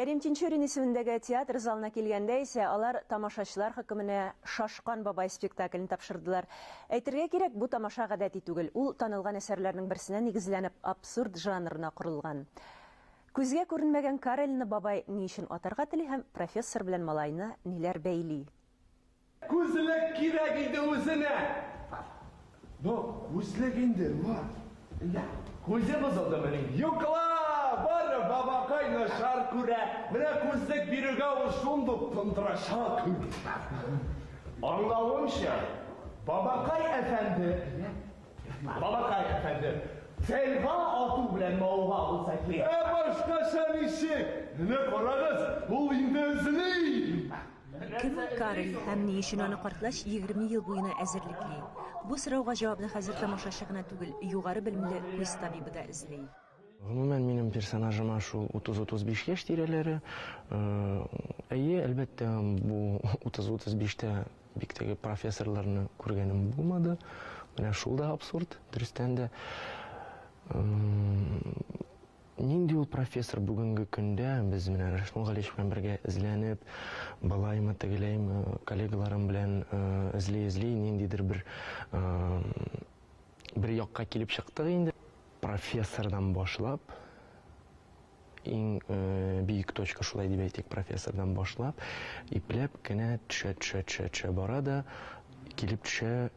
Кәрим Тинчурин исемендәге театр залына килгәндә исә, алар тамашачылар хөкеменә Шашкан бабай спектаклен тапшырдылар. Әйтергә кирәк, бу тамаша гадәти түгел, ул танылган әсәрләрнең берсенә нигезләнеп, абсурд жанрына корылган. Күзгә күренмәгән Карельны бабай ни өчен атарга тели һәм профессор белән малайны ниләр бәйли? Күзлек кирәк иде үзенә! Ну, күзлек инде, ну, әллә күзе бозылдымыни? Юк ла, бары бабакай начар күрә, менә күзлек бирүгә ул шундук тондырачак. Аңлавымча, бабакай әфәнде, әллә, бабакай әфәнде, телга ату белән мавыга булса кирәк. Ә башкача ничек? Менә карагыз, ул инде эзли! Кем ул Карл һәм ни өчен аны картлач егерме ел буена әзерлекли? Бу сорауга җавапны хәзер тамашачы гына түгел, югары белемле күз табибы да эзли. Гомумән, минем персонажыма шул утыз-утыз биш яшь тирәләре. Әйе, әлбәттә, бу утыз-утыз биштә бик теге профессорларны күргәнем булмады. Менә шул да абсурд, дөрестән дә. Нинди ул профессор бүгенге көндә? Без менә Рәшмүл Галиевич белән бергә эзләнеп, болаймы, тегеләйме, коллегаларым белән эзли-эзли, ниндидер бер бер якка килеп чыктык инде. Профессордан башлап, иң биек точка, шулай дип әйтик, профессордан башлап, ипләп кенә төшә-төшә-төшә-төшә бара да, килеп төшә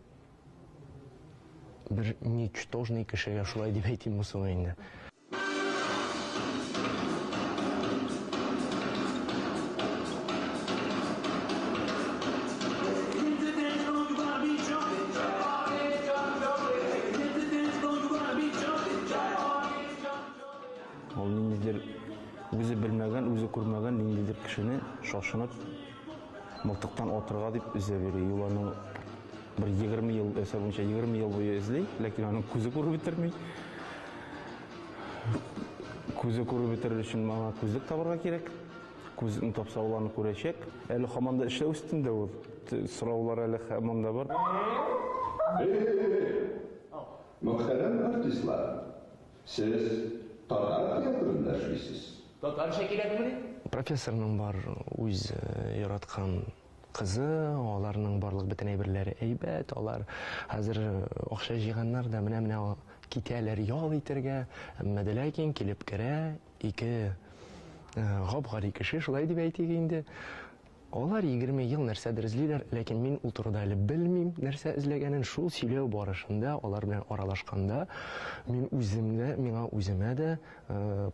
Бер ничтожный кешегә шулай дип әйтимме соң инде? Ул ниндидер үзе белмәгән, үзе күрмәгән ниндидер кешене шашынып Мылтыктан атырга дип эзләп йөри. Ул аны бер 20 ел эсэ буенча 20 ел буе эзли, ләкин аның күзе күреп бетерми. Күзе күреп бетерер өчен мага күзлек табарга кирәк. Күзлекне тапса ул аны күрәчәк. Әле хаман да эшләү өстендә ул. Сораулар әле хаман да бар. Мөхтәрәм артистлар, Сез татар театрында эшлисез? Татарча кирәкмени? Профессорның бар үз яраткан кызы, аларның барлык бөтен әйберләре әйбәт, алар хәзер акча җыйганнар да менә-менә китәләр ял итәргә, әмма дә ләкин килеп керә ике гап-гади кеше, шулай дип әйтик инде, Алар егерме ел нәрсәдер эзлиләр, ләкин мин ул турыда әле белмим, нәрсә эзләгәнен. Шул сөйләү барышында, алар белән аралашканда, мин үзем дә, миңа үземә дә,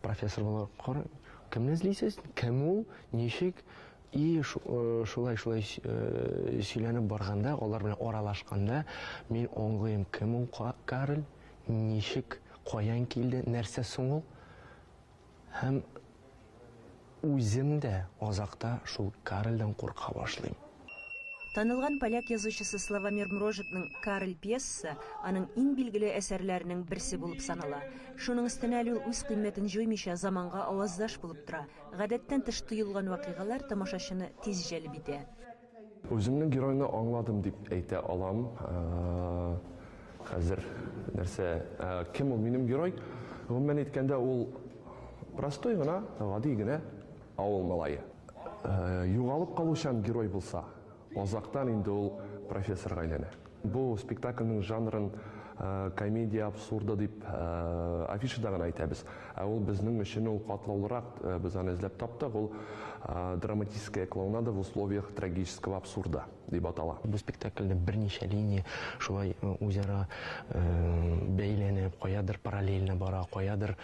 Профессор буларак, кара, кемне эзлисез? Кем ул? Ничек? И, шулай, шулай сөйләнеп барганда, алар белән аралашканда, мин аңлыйм, кем ул Карл, ничек, каян килде, нәрсә соң ул? Һәм үзем дә азакта шул Карельдән курка башлыйм. Танылган поляк язучысы Славомир Мрожикның Карель пьесасы аның иң билгеле әсәрләренең берсе булып санала. Шуның өстенә әле ул үз кыйммәтен җуймыйча заманга аваздаш булып тора. Гадәттән тыш тоелган вакыйгалар тамашачыны тиз җәлеп итә. Үземнең геройны аңладым дип әйтә алам. Хәзер нәрсә, кем ул минем герой? Гомумән әйткәндә, ул простой гына, гади генә авыл малае. Югалып калучан герой булса, азактан инде ул профессорга әйләнә. Бу спектакльнең жанрын комедия абсурда дип афишада гына әйтәбез. Ә ул безнең өчен ул катлаулырак, без аны эзләп таптык, ул Драматическая клоунада в условиях трагического абсурда дип атала. Бу спектакльдә берничә линия шулай үзара бәйләнеп, каядыр параллельно бара, каядыр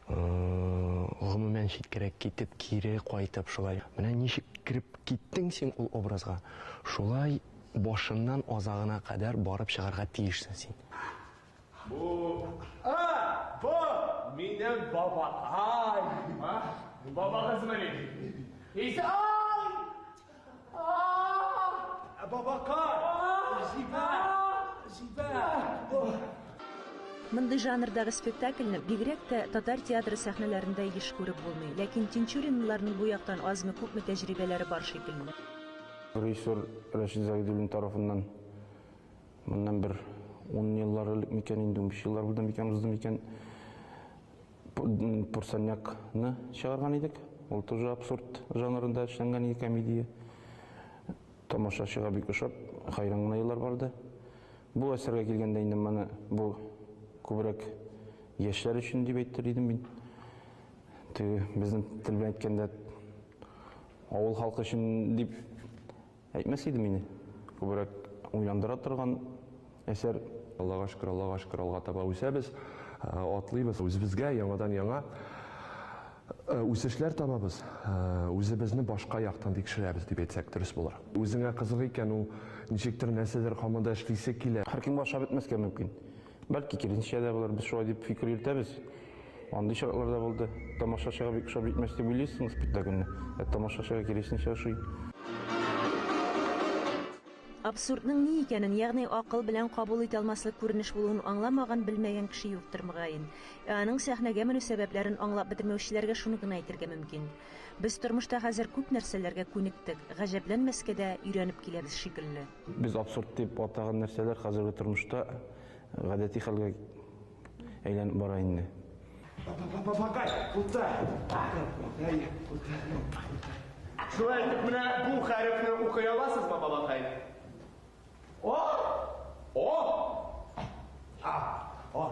гомумән читкәрәк китеп, кире кайтып шулай. Менә ничек кереп киттең син ул образга, шулай башыннан азагына кадәр барып чыгарга тиешсең син. Бу, а, бу минем бабакай. А, бабагызмыни? Изай! А-а-а! Бабакай! Җибәр! Җибәр! Мондый жанрдагы спектакльне бигрәк тә татар театры сәхнәләрендә еш күреп булмый, ләкин Тинчуринлыларның бу яктан азмы-күпме тәҗрибәләре бар шикелле. Режиссер Рәшит Загидуллин тарафыннан моннан бер ун еллар элек микән, инде унбиш еллар булды микән, узды микән, Пурсанякны чыгарган идек. Ул тоже абсурд жанрында эшләнгән иде комедия. Тамашачыга бик ошап, хәйран гына еллар барды. Бу әсәргә килгәндә инде моны бу күбрәк яшьләр өчен дип әйтер идем мин. Теге безнең тел белән әйткәндә Авыл халкы өчен дип әйтмәс идем мин. Күбрәк уйландыра торган әсәр. Аллага шөкер, Аллага шөкер, алга таба үсәбез, атлыйбыз. Үзебезгә яңадан яңа үсешләр табабыз, үзебезне башка яктан тикшерәбез дип әйтсәк дөрес булыр. Үзеңә кызык икән, ул ничектер нәрсәдер команда эшлисе килә. Һәркем аша бетмәскә мөмкин. Бәлки, киресенчә дә булыр, без шулай дип фикер йөртәбез. Андый очраклар да булды. Тамашачыга бик ошап җитмәс дип уйлыйсың спектакльне, ә тамашачыга киресенчә ошый. Абсурдның ни икәнен, ягъни акыл белән кабул итә алмаслык күренеш булуын аңламаган, белмәгән кеше юктыр, мөгаен. Ә аның сәхнәгә менү сәбәпләрен аңлап бетермәүчеләргә шуны гына әйтергә мөмкин, без тормышта хәзер күп нәрсәләргә күнектек, гаҗәпләнмәскә дә, өйрәнеп киләбез шикелле. Без абсурд дип атаган нәрсәләр хәзерге тормышта гадәти хәлгә әйләнеп бара инде. Бабакай, утыр! Шулай итеп, менә бу хәрефне укый аласызмы, бабакай? О! О! А! О!